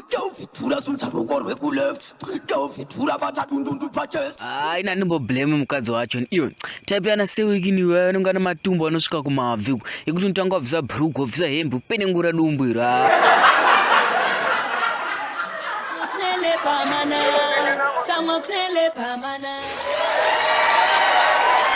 Tauvhedhura sumudza ruoko rwekuleft tauvhedhura bata dundundu pachest hayi nani mboblame mukadzi wacho iwe type ana sewikini iwe anenge ane matumbu anosvika kumabvi uku ekuti unotanga wabvisa bhurugu wabvisa hembe upenengura dumbu iro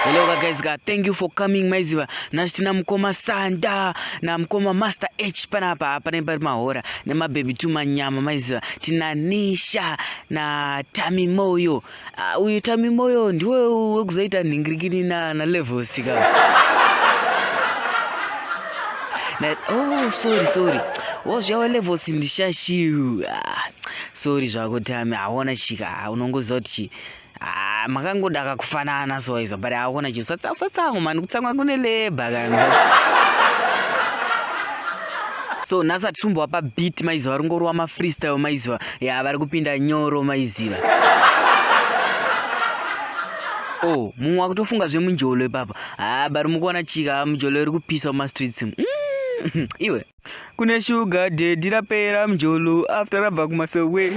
hello ka guys ka thank you for coming maiziva nasi tina mukoma sanda namukoma master h panapa panai pari mahora nemabhebhi tumanyama maiziva tina nisha natami moyo ah, uyu tami moyo ndiwe wekuzoita nhingirikini nalevosika na, oh, sorry sorry wozviyawa levels ndishashiu ah, sorry zvako tami haona chika ah, unongoziva kuti chii Ah, makangoda kakufanana so izo but haukona chinhu usatsango mani kutsangwa kune leba kana so nhasi atisumbowa pabeat maiziva vari ngorowa mafreestyle maiziva ya vari kupinda nyoro maiziva o oh, mumwe wakutofunga zvemunjolo ipapa haa ah, bari mukuona chika mujolo iri kupisa mumastreets mm, iwe kune shuga dedi rapera mjolo after rabva kumasowe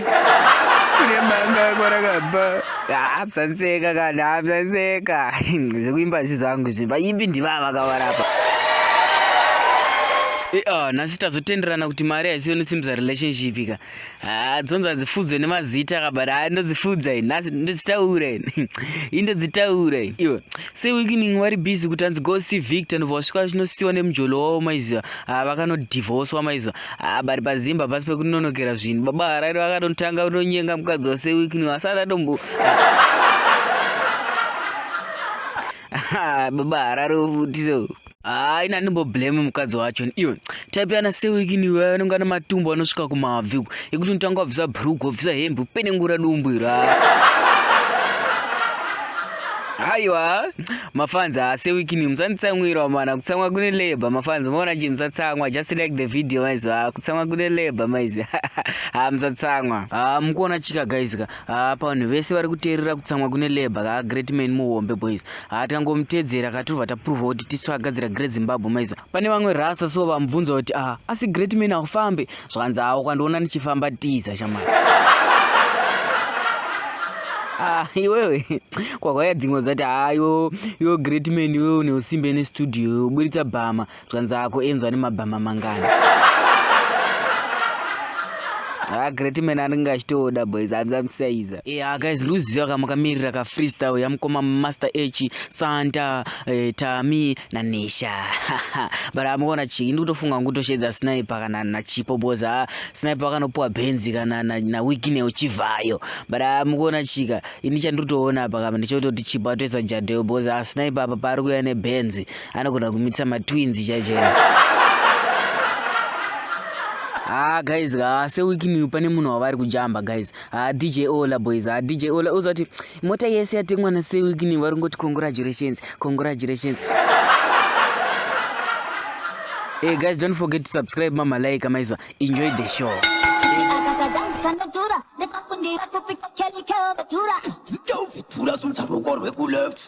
kune manga kwarakabva hapsanseka kana hapsanseka zvekuimba zvi zvangu zvi vaimbi ndivava kavarapa e, ah, nhasi tazotenderana kuti mari haisiyo nesimbisa relationship ka Ah, dzonzi hadzifudzwe nemazita kabari ah, ndodzifudza ini nhasi ndodzitaura ini ini ndodzitaura ini iwe se weekening wari busy kuti hanzi go see victor ndobva wasvika vachinosiwa nemujolo wavo maiziva ah, vakanodivhoswa maiziva ah, bari pazimba pasi pekunonokera zvinhu baba harari vakanotanga kunonyenga mukadzi wase weekening asati atombo ah. baba harari ofutiso Haa ina ndimbo blame mukadzi wacho iwe type yana sewikini iwe anenge ane matumbu anosvika kumabvi uku ekuti unotanga wabvisa bhurugwa wabvisa hembe upenengura dumbu iro haiwa mafanzi haasewikini musanditsamwirwa mana kutsamwa kune labor mafanzi maona chii musatsamwa just like the video maizi ha kutsamwa kune labor maizi ha musatsamwa ha mukuona chika guys ka haa pavanhu vese vari kuteerera kutsamwa kune labor kaa great man muhombe boys haa tikangomutedzera katobva taprovha kuti tisu takagadzira great zimbabwe maiza pane vamwe rasa so vamubvunza kuti aa asi great man akufambe zvakanzi haa ukandiona ndichifamba tiza shamai ah, iwewe kwakauya dzimwe dzati haa yo yo great man iwewe neusimbe nestudio uburitsa bhama zvanzi ako inzwa nemabhama mangani ha ah, great man anenge achitooda boys abzamsaiza e eh, ah, guys ndiuziva kama kamirira ka freestyle yamukoma master h santa eh, tami nanesha but amukona chiki ndikutofunga kungutoshedza sniper kana nachipo boys ha ah, sniper akanopuwa benzi kana nawikine uchivayo but amukona chika ini chandiri kutoona apa kama ndichototi chipo atoisa jadeo boys ha sniper apa paari kuuya nebenzi anogona kumitsa matwins chaichaicho haa ah, guys haa ah, sewikiniyu pane munhu wavari kujamba guys haa ah, dj ola boys haa dj ola uzoti mota yese yatengwa na sewikiniyu vari kungoti congratulations congratulations Hey eh, guys, don't forget to subscribe mama like kama hizo. Enjoy the show. Yo, vitura sunza ruko rweku left.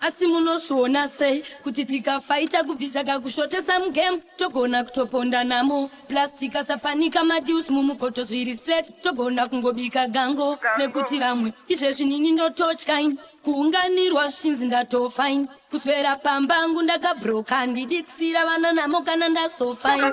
Asi munozviona sei kuti tikafaita kubvisa kakushotesa mugame togona kutoponda namo plus tikasapanika madeals mumukoto zviri straight togona kungobika gango nekuti vamwe izvezvi nini ndototyain kuunganirwa zvishinzi ndatofain kuswera pamba angu ndakabroka ndidikisira vana namo kana ndasofain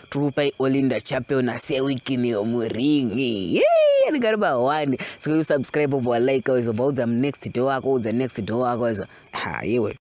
Tupa Olinda Chapel na Sewikini Omuringi. Yee, anigari ba one. Sikuyu subscribe over like awezwa. Baudza next door wako, udza next door wako awezwa. Ha, yewe.